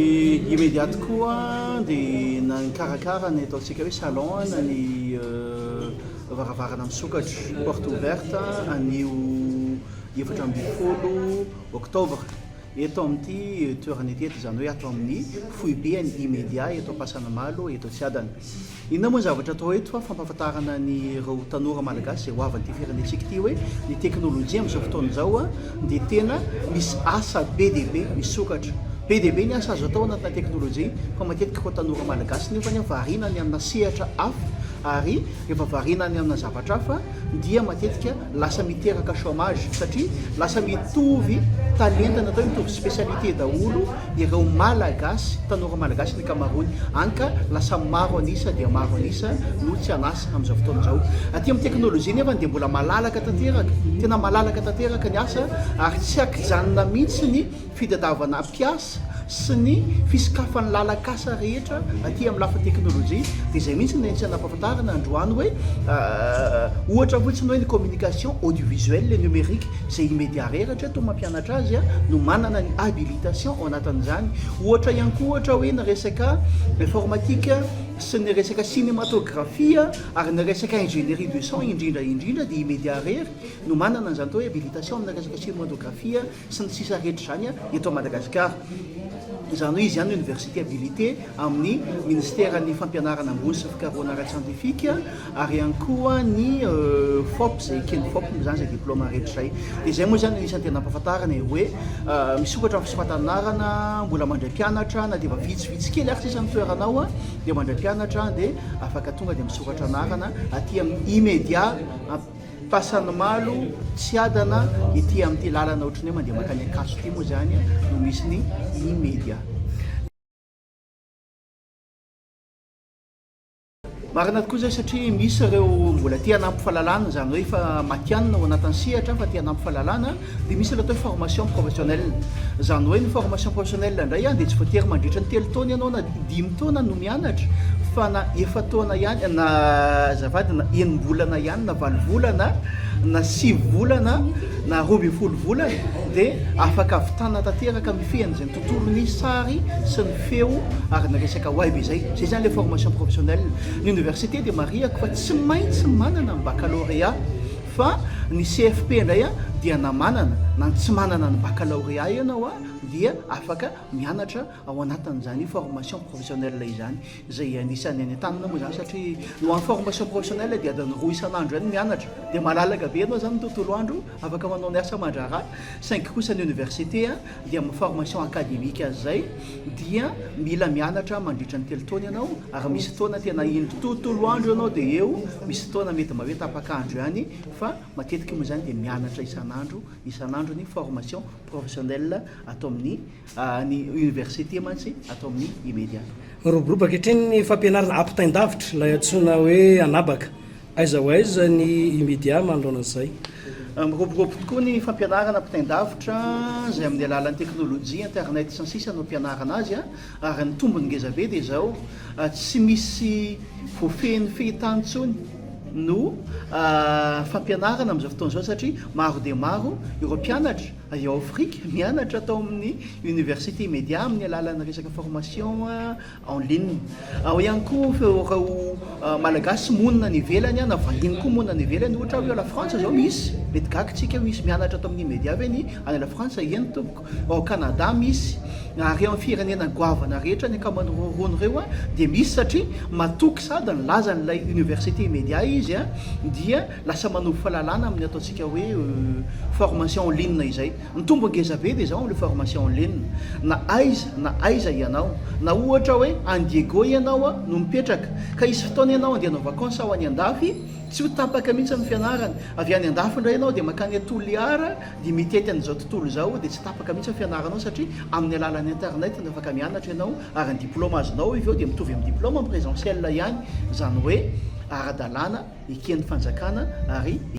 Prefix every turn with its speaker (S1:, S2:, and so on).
S1: Imediat koa dia nikarakara ny ataontsika hoe salon an ny varavarana misokatra, porte ouverte, anio efatra ambin'ny folo oktobra eto amin'ity toerana ity, izany hoe ato amin'ny foibe an'ny Imedia eto Ampasanimalo eto Tsiadana. Inona moa ny zavatra atao eto fa fampahafantarana an'ireo tanora malagasy izay ho avan'ity firenentsika ity hoe ny teknolojia amin'izao fotoana izao dia tena misy asa be dia be misokatra. Be dia be ny asa azo atao anatina teknolojia fa matetika koa tanora malagasy nefany variana any amina sehatra hafa ary rehefa variana any amina zavatra hafa dia matetika lasa miteraka chômage satria lasa mitovy talenta na atao hoe mitovy spécialité daholo ireo Malagasy, tanora Malagasy ny ankamaroany, any ka lasa maro an'isa dia maro an'isa no tsy an'asa amin'izao fotoana izao. Aty amin'ny teknolojia nefany dia mbola malalaka tanteraka, tena malalaka tanteraka ny asa ary tsy an-kijanona mihitsy ny fitadiavana mpiasa sy ny fisokafan'ny lalan-kasa rehetra aty amin'ny lafiny teknolojia, dia izay mihitsy no nentin'ny anampahafantarana androany hoe ohatra fotsiny hoe ny communication audiovisuelle et numérique izay i Media Rey rahatreto mampianatra azy no manana ny habilitation ao anatin'izany, ohatra ihany koa ohatra hoe ny resaka informatique sy ny resaka cinématographie ary ny resaka ingénierie du son indrindra indrindra dia i Media Rey no manana an'izany atao hoe habilitation amina resaka cinématographie. sy ny sisa rehetra izany eto Madagasikara. Izany hoe izy ihany no Université habilité amin'ny Ministeran'ny Fampianarana Ambony sy Fikarohana Ara-tsiantifika ary ihany koa ny Fop izay eken'ny Fop moa izany izay diplaoma rehetra izay. Dia izay moa izany no anisan'ny tena ampahafantarana e, hoe misokatra amin'ny fisoratan'anarana, mbola mandray mpianatra na dia efa vitsy vitsy kely ary sisa ny toerana ao dia mandray mpianatra dia afaka tonga dia misoratra anarana aty amin'ny Imedia. Fasan'ny Malo, Tsiadana, ity amin'ity lalana ohatry ny hoe mandeha mankany Ankatso ity moa izany no misy ny Imedia. Marina tokoa izay satria misy ireo mbola te hanampy fahalalana, izany hoe efa matihanina ao anatin'ny sehatra fa te hanampy fahalalana, Dia misy ny atao hoe formation professionnelle. Izany hoe ny formation professionnelle indray dia tsy voatery mandritra ny telo taona ianao na dimy taona no mianatra fa na efa-taona ihany na azafady na enim-bolana ihany na valo volana na sivy volana na roa ambin'ny folo volana dia afaka ahavitana tanteraka mifehy an'izay ny tontolon'ny sary sy ny feo ary ny resaka web izay. Izay izany ilay formation professionnelle. Ny oniversite dia marihako fa tsy maintsy manana ny baccalauréat. Fa ny CFP indray a dia na manana na tsy manana ny baccalauréat ianao a dia afaka mianatra ao anatin'izany formation professionnelle izany izay anisan'ny any an-tanana moa izany satria ho an'ny formation professionnelle dia adiny roa isan'andro ihany mianatra dia malalaka be ianao izany ny tontolo andro afaka manao ny asa aman-draharaha saingy kosa ny université a dia amin'ny formation academique azy izay dia mila mianatra mandritra ny telo taona ianao ary misy fotoana tena indro tontolo andro ianao dia eo misy fotoana mety mba hoe tapak'andro ihany fa matetika moa izany dia mianatra isan'andro isan'andro ny formation professionnelle ato amin'ny ah, ny université mantsy ato amin'ny imedia miroboroba ankehitriny
S2: ny fampianarana ampitain-davitra ilay antsoina hoe anabaka Aiza ho aiza ny Imedia manoloana izay? Miroborobo
S1: tokoa ny fampianarana ampitain-davitra izay amin'ny alalan'ny teknolojia, internet sy ny sisa no ampianarana azy ary ny tombony ngeza be dia izao tsy misy voafehin'ny fehintany intsony no fampianarana amin'izao fotoana izao satria maro dia maro ireo mpianatra avy ao Afrika mianatra tao amin'ny Université Imedia amin'ny alalan'ny resaka formation en ligne. Ao ihany koa ireo Malagasy monina any ivelany na vahiny koa monina any ivelany, ohatra hoe ao La Frantsa izao misy, mety gaga isika hoe misy mianatra ato amin'ny media ve ny any La Frantsa? Eny tompoko. Ao Canada misy, ary eo amin'ny firenena goavana rehetra ny ankamaroan'ireo ronono ireo dia misy satria matoky sady nilaza an'ilay Université Media izy dia lasa manovo fahalalana amin'ny ataontsika hoe formation en ligne izay. Mitombo ngeza be ve izao amin'ilay formation en ligne na aiza na aiza ianao? Na ohatra hoe any Diego ianao no mipetraka ka hisy fotoana ianao handeha hanao vacances ho any andafy, tsy ho tapaka mihitsy ny fianarana. Avy any andafy indray ianao dia mankany à Toliara dia mitety an'izao tontolo izao dia tsy tapaka mihitsy ny fianaranao satria amin'ny alalan'ny internet no afaka mianatra ianao ary ny diploma azonao avy eo dia mitovy amin'ny diploma en présentiel ihany izany hoe ara-dalàna eken'ny fanjakana ary